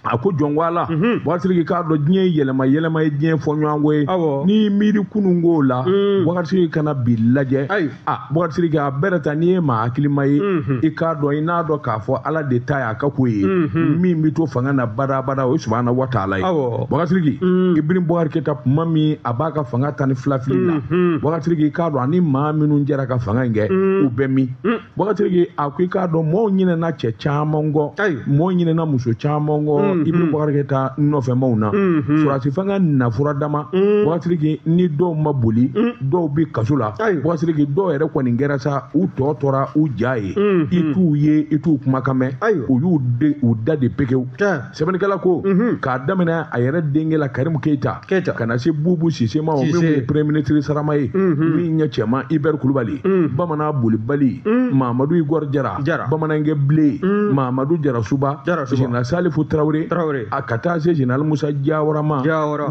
a ko jɔn ko ala mhm. bɔkasiriki i k'a dɔn diɲɛ ye yɛlɛma yɛlɛma ye diɲɛ fɔɲɔgɔnkɔ ye n'i miiri kunun ko la mm. bɔkasiriki ka na bi lajɛ a bɔkasiriki a bɛrɛ ta n'i ye maa hakilima ye mhm. i k'a dɔn i n'a dɔn k'a fɔ ala de ta y'a ka ko ye mhm. min bɛ to fanga na badabada o ye subahana wa taala ye bɔkasiriki mm. ibrim bɔkari keyita kuma min a b'a ka fanga tan ni fila fili la bɔkasiriki i k'a dɔn ani maa minnu jɛra ka fanga in kɛ mm. u bɛ min Bɔkasiriki a ko i k'a dɔn mɔgɔw ɲinɛna cɛ caman kɔ mɔgɔw ɲinɛna muso caman kɔ mm-hmm. Ibrim Bɔkari Keyita nɔfɛmaw na mm-hmm. sɔrɔdasi fanga na furadama mm. Bɔkasiriki ni dɔw ma boli mm. dɔw bɛ kaso la Bɔkasiriki dɔw yɛrɛ kɔni kɛra sa u tɔ tora u ja ye mm-hmm. i t'u ye i t'u kumakan mɛn u y'u da de pekewu sɛbɛnnikɛla ko k'a daminɛ a yɛrɛ denkɛ la karimu keyita keyita ka na se bubu sise ma o min ye premier ministre sarama ye min ye cɛman ibɛri kulubali bamanan bolibali mamadu igor jara jara bamanankɛ bilen mamadu jarasuba general salifu tarawele tarawele a ka taa se general musa jawara ma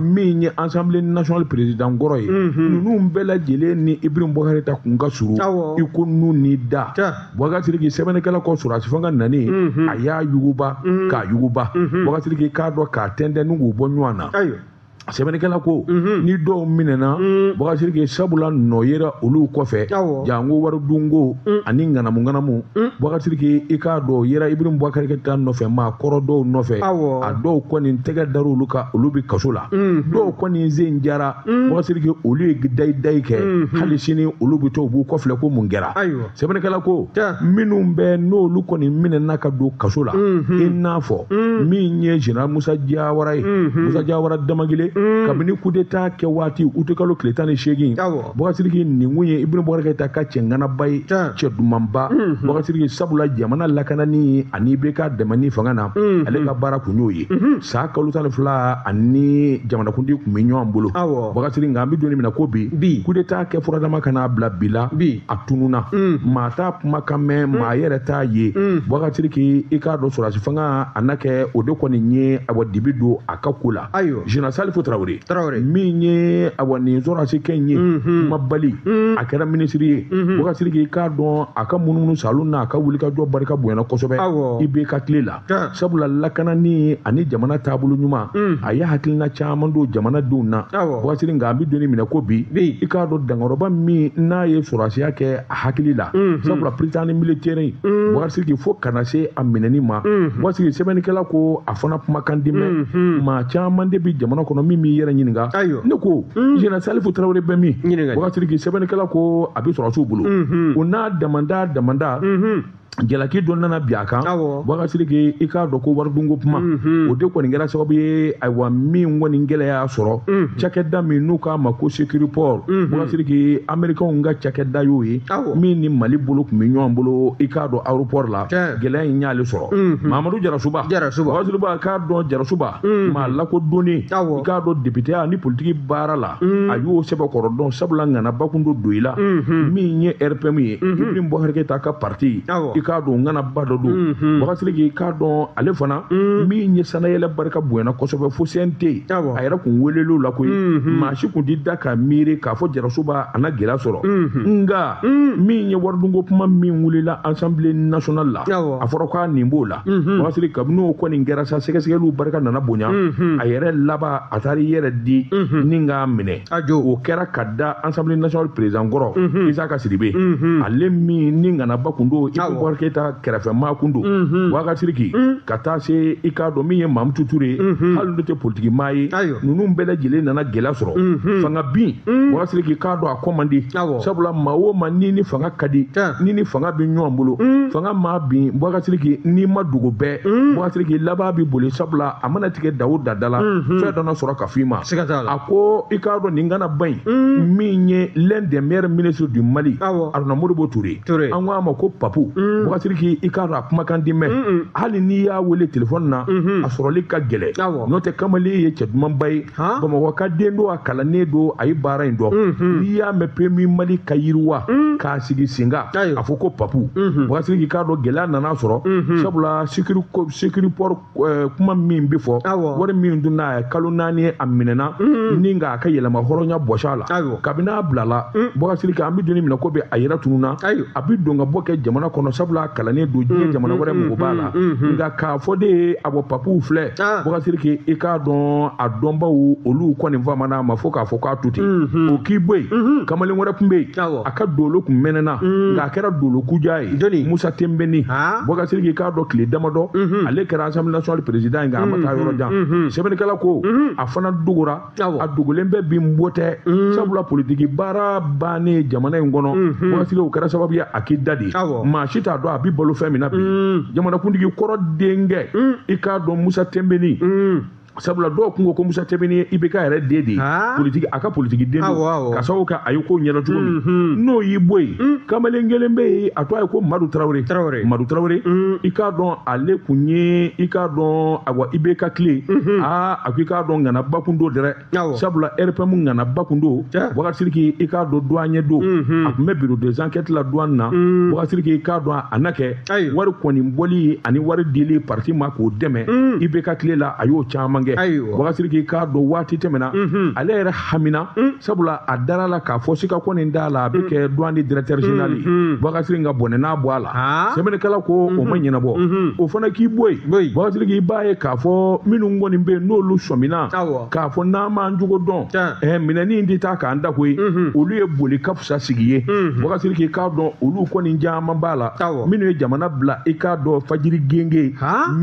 min ye assemblée nationale président kɔrɔ ye ninnu bɛɛ lajɛlen ni ibrim bɔkari keyita kun ka surun i ko nun ni da Bɔkasiriki sɛbɛnnikɛla ko sɔrɔdasi fanga nani a y'a yuguba k'a yuguba Bɔkasiriki i k'a dɔn k'a tɛntɛn ni k'u bɔ ɲɔgɔn na ayiwa sɛbɛnnikɛla ko ni dɔw minɛna Bɔkasiriki sabula nɔ yera olu kɔfɛ Awɔ. janko wari dunko ani ŋanamu ŋanamu Bɔkasiriki i k'a dɔn o yera Ibrim Bwakari Keyita nɔfɛ maa kɔrɔ dɔw nɔfɛ Awɔ. a dɔw kɔni tɛgɛ dara olu kan olu bɛ kaso la dɔw kɔni sen jara Bɔkasiriki olu ye dayi dayi kɛ hali sini olu bɛ to u b'u kɔfilɛ ko mun kɛra ayiwa sɛbɛnnikɛla ko minnu bɛ n'olu kɔni minɛna ka don kaso la i n'a fɔ min ye general musa jawara ye musa jawara damagile kabini kudeta kɛ waati utikalo tile tan ni seegin bɔkasiriki nin kun ye ibrim bɔkari keyita ka cɛ ŋanaba ye cɛ dumanba bɔkasiriki sabula jamana lakanani ani IBK dɛmɛni fanga na ale ka baara kun y'o ye san kalo tan ni fila ani jamanakuntigi kun bɛ ɲɔgɔn bolo bɔkasiriki nka an bɛ don min na ko bi kudeta kɛ furadama ka n'a bila bi la a tununa mm. maa t'a kumakan mɛn mm. maa yɛrɛ t'a ye mm. bɔkasiriki i k'a dɔn sɔrɔdasi fanga a na kɛ o de kɔni ye awa dibi don a ka ko la general salifu tarawele min ye awa nin sɔrɔdasikɛ ye mm-hmm. kumabali mm-hmm. a kɛra minisiri ye mm-hmm. bɔkasiriki i k'a dɔn a ka munumunusaalo n'a ka wulikajɔ barika bonyana kosɛbɛ IBK tile la sabula lakanani ani jamana taabolo ɲuman a ye hakilina caman don jamanadenw na bɔkasiriki nka an bɛ don min na ko bi i k'a dɔn dankɔrɔba min n'a ye sɔrɔdasiya kɛ a hakili la sabula prytanée militaire bɔkasiriki fo ka na se a minɛni ma bɔkasiriki sɛbɛnnikɛla ko a fana kumakan tɛ mɛn maa caman de bɛ jamana kɔnɔ min b'i yɛrɛ ɲininka ne ko general salifu tarawele bɛ min bɔkasiriki sɛbɛnnikɛla ko a bɛ sɔrɔdasiw bolo o n'a damada damada jalaki dɔ nana bin a kan bubakar sidiki i k'a dɔn ko waridunko kuma mhm. o de kɔni kɛra sababu ye ayiwa min kɔni gɛlɛya y'a sɔrɔ mhm. cakɛda min n'u k'a ma ko securiport mhm. bubakar sidiki amerikanw ka cakɛda y'o ye min ni mali bolo kun bɛ ɲɔgɔn bolo i k'a dɔn aéroport la gɛlɛya in y'ale sɔrɔ mamadu jarasuba bubakar sidiki k'a dɔn jarasuba maa lakodɔnnen i k'a dɔn depiteya ni politiki baara la mm. a y'o sɛbɛkɔrɔ dɔn sabula ŋanaba kun don tɔn in la mm-hmm. min ye rpm ye mm-hmm. ibrahim bubakar keyita ka parti i k'a dɔn ŋanaba dɔ don mm-hmm. bubakar sidiki i k'a dɔn ale fana mm. min ye sannayɛlɛn barika bonyana kosɛbɛ fo cnt a yɛrɛ kun welel'o la koyi maa si kun t'i da ka miiri k'a fɔ jarasuba a na gɛlɛya sɔrɔ nka mm. min ye waridunko kuma min wulila assemblée nationale la a fɔra k'a nin b'o la Mhm. bubakar sidiki kabini o kɔni kɛra sa sɛgɛsɛgɛliw barika nana bonya mhm. a yɛrɛ laban a taara i yɛrɛ di mhm. ni k'a minɛ o kɛra ka da assemblée nationale président kɔrɔ isaka sidibe ale min ni ŋanaba kun don ibrahim bubakar keyita kɛrɛfɛmaa kun don bubakar sidiki ka taa se i k'a dɔn min ye mamutu ture ye hali n'o tɛ politikimaa ye ninnu bɛɛ lajɛlen nana gɛlɛya sɔrɔ fanga bin bubakar sidiki k'a dɔn kɔ man di sabula maa o maa n'i ni fanga ka di n'i ni fanga bɛ ɲɔgɔn bolo mm. fanga maa bin bubakar sidiki n'i ma dogo bɛɛ mm. bubakar sidiki laban bɛ boli sabula a mana tigɛ da o da la mm-hmm. fɛn dɔ na sɔrɔ ka f'i ma a ko i k'a dɔn nin ŋanaba in mm. min ye l'un des meilleurs ministres du Mali Aruna Modibo Toure an ko a ma ko papu bubakar sidiki i k'a dɔn a kumakan tɛ mɛn hali n'i y'a wele telefɔni na mm-hmm. a sɔrɔli ka gɛlɛn n'o tɛ kamalen ye cɛ dumanba ye bamakɔ ka den don a kalannen don a ye baara in dɔn mhm. n'i y'a mɛn PMU mali ka yiriwa mhm. k'a sigi sen kan a fɔ ko papu mhm. bubakar sidiki i k'a dɔn gɛlɛya nana sɔrɔ sabula securiport eh, kuma min bɛ fɔ wari min dun n'a ye kalo naani a minɛna ni k'a ka yɛrɛmahɔrɔnya bɔs'a la kabini n'a bilala bubakar sidiki an bɛ don min i ko bi a yɛrɛ tununna a bɛ don ka bɔ kɛ jamana kɔnɔ sabula kalannen don diɲɛ jamana wɛrɛ mako b'a la nka k'a fɔ de ye a bɔ papu filɛ Ah. bubakar sidiki i k'a dɔn a dɔnbaw olu kɔni famana a ma fo k'a fɔ k'a to ten mhm. o k'i bɔ yen mhm. kamalen wɛrɛ tun bɛ yen a ka doolo kun mɛnɛna mhm. nka a kɛra doolo kujan ye musa tenbeni ah. bubakar sidiki i k'a dɔn tile damadɔ ale kɛra assemblée nationale président ye nka a ma taa yɔrɔ jan sɛbɛnnikɛla ko a fana dogora a dogolen bɛ bi bɔ tɛ mm. sabula politiki baara bannen jamana in kɔnɔ mm-hmm. bubakar sidiki o kɛra sababu ye a k'i dade maa si t'a dɔn a bɛ balo fɛn min na bi mm. jamanakuntigi kɔrɔ denkɛ mm. i k'a dɔn musa tenbeni sabula dɔw tun ko ko musa tenbeni ye ibk yɛrɛ den de ye ah. politiki a ka politiki den don ka sababu kɛ a ye ko ɲɛdɔn cogo min mm-hmm. n'o y'i bɔ yen mm. kamalen kelen bɛ yen a tɔgɔ ye ko madu tarawele madu tarawele mm. i k'a dɔn ale kun ye i k'a dɔn awa ibk tile mm-hmm. aa ah, a ko i k'a dɔn ŋanaba kun don dɛrɛ Awɔ. sabula RPM ŋanaba kun don Tiɲɛ. Boubacar Sidiki i k'a dɔn douanier don Mhm. a kun bɛ bureau des enquêtes la duwan na Mm. Boubacar Sidiki i k'a dɔn a na kɛ Ayi. wari kɔni bɔli ani wari dili parti ma k'o dɛmɛ Mm. IBK tile la a y'o caman kɛ Ayiwa. Boubacar Sidiki i k'a dɔn waati tɛmɛna Mhm. ale yɛrɛ hamina sabula a dara la k'a fɔ sika kɔni t'a la a bɛ kɛ douane directeur général ye Boubacar Sidiki a bɔnɛ n'a bɔ a la sɛbɛnnikɛla ko o ma ɲɛnabɔ o fana k'i bɔ yen Boubacar Sidiki i b'a ye k'a fɔ minnu kɔni bɛ yen n'olu sɔmina k'a fɔ n'an m'an cogo dɔn ɛɛ minɛni in tɛ taa k'an dan koyi olu ye boli ka fisa sigi ye Boubacar Sidiki i k'a dɔn olu kɔni caman b'a la minnu ye jamana bila i k'a dɔn fajiri genge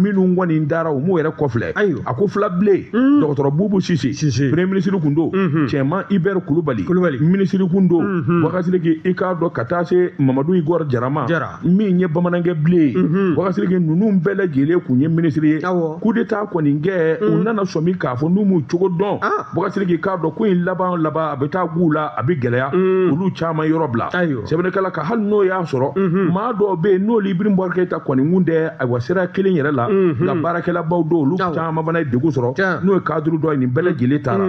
minnu kɔni taara u m'u yɛrɛ kɔfilɛ ayi a ko fila bilen mm. dɔgɔtɔrɔ bubu sise sise premier ministre kun don mm-hmm. cɛman Hubert kulubali kulubali ministre kun don mm-hmm. Boubacar Sidiki i k'a dɔn ka taa se mamadu igor jara ma jara min ye bamanankɛ bilen ye mm-hmm. Boubacar Sidiki ninnu bɛɛ lajɛlen kun ye ministre ye awɔ coup d'état kɔni kɛ u mm. nana sɔmi k'a fɔ n'u m'u cogo dɔn ah. Boubacar Sidiki i k'a dɔn ko in laban laban a bɛ taa g'u la a bɛ gɛlɛya mm. olu caman yɔrɔ bila ayiwa sɛbɛnnikɛla ka hali n'o y'a sɔrɔ maa dɔw bɛ yen n'olu Ibrahim Boubacar keyita kɔni kun tɛ ayiwa sira kelen yɛrɛ la nka baarakɛlabaw dɔw olu caman fana ye degun sɔrɔ n'o ye cadre dɔ ye nin bɛɛ lajɛlen taara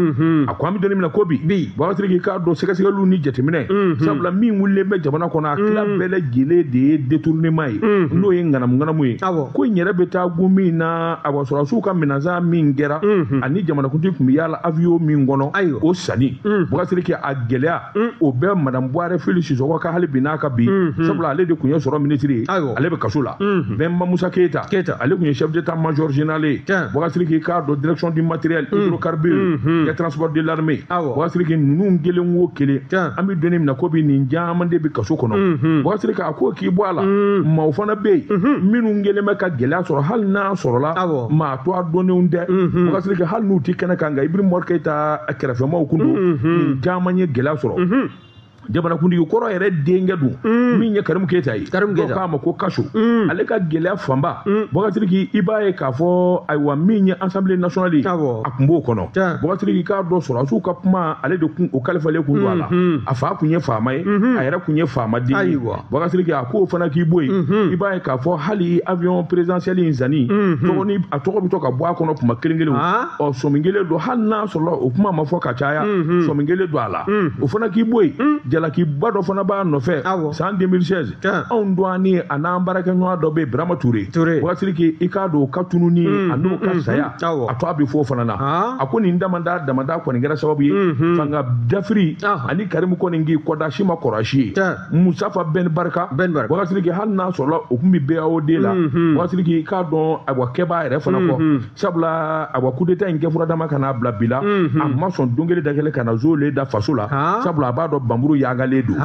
a ko an bɛ don in min na ko bi Boubacar Sidiki i k'a dɔn sɛgɛsɛgɛliw ni jateminɛ sabula min wulilen bɛ jamana kɔnɔ a tila bɛɛ lajɛlen de ye détournement ye n'o ye ŋanamuŋanamu ye ko in yɛrɛ bɛ taa gun min na ayiwa sɔrɔdasiw ka minɛn san min kɛra ani jamanakuntigi tun bɛ yaala avion min kɔnɔ o sanni Boubacar Sidiki a gɛlɛya Mm. o bɛ madame buware fili sisɔgɔ kan hali bi n'a ka bi mm, mm. sabula ale de tun ye sɔrɔ minisiri ye ale bɛ kaso la bɛnba musa keyita ale tun ye chef d'état major général ye Boubacar Sidiki i k'a dɔn direction du matériel hydrocarbure et transport de l'armée Boubacar Sidiki ninnu kelen o kelen an bɛ don in min na ko bi nin caman de bɛ kaso kɔnɔ Boubacar Sidiki a ko k'i bɔ a la maaw fana bɛ yen minnu kɛlen bɛ ka gɛlɛya sɔrɔ hali n'a sɔrɔla maa tɔgɔ dɔnnenw tɛ Boubacar Sidiki hali n'u tɛ kɛnɛ kan nka Ibrahim Boubacar keyita kɛrɛfɛmaaw kun don nin caman ye gɛlɛya sɔrɔ jamanakuntigi kɔrɔ yɛrɛ denkɛ dun min ye karimu keyita ye Karimu Keyita. dɔw k'a ma ko Katio ale ka gɛlɛya fanba Boubacar Sidiki i b'a ye k'a fɔ ayiwa min ye Assemblée nationale ye Awɔ. a kun b'o kɔnɔ Tiɲɛ. Boubacar Sidiki i k'a dɔn sɔrɔdasiw ka kuma ale de kun o kalifalen kun don a la a fa kun ye faama ye a yɛrɛ kun ye faama den ye Ayiwa. Boubacar Sidiki a k'o fana k'i bɔ yen i b'a ye k'a fɔ hali avion présidentiel in sanni tɔgɔ ni a tɔgɔ bɛ to ka bɔ a kɔnɔ tuma kelen kelen ɔ sɔmi kɛlen don hali n'a sɔrɔ o kuma ma fɔ ka caya sɔmi kɛlen don a la o fana k'i bɔ yen jalakiba dɔ fana b'a nɔfɛ san 2016 anw dɔgɔnin a n'an baarakɛɲɔgɔn dɔ bɛ yen Birama Ture Boubacar Sidiki i k'a dɔn o ka tununni a n'o ka saya a tɔgɔ bɛ fɔ o fana na a ko nin damadɔ damadɔ kɔni kɛra sababu ye fanga dafiri ani Karimu kɔni k'i kɔda si ma kɔrɔ si ye musafa bɛn barika bubakar siriki hali n'a sɔrɔla o tun bɛ BAOD la mhm. bubakar siriki k'a dɔn awa kɛbaa yɛrɛ fana kɔ mhm. sabula awa kudeta in kɛ fura dama ka n'a bila bi la mhm. a ma sɔn don kelen da kelen ka na zoolen da faso la sabula a b'a dɔn banmuru yangalen don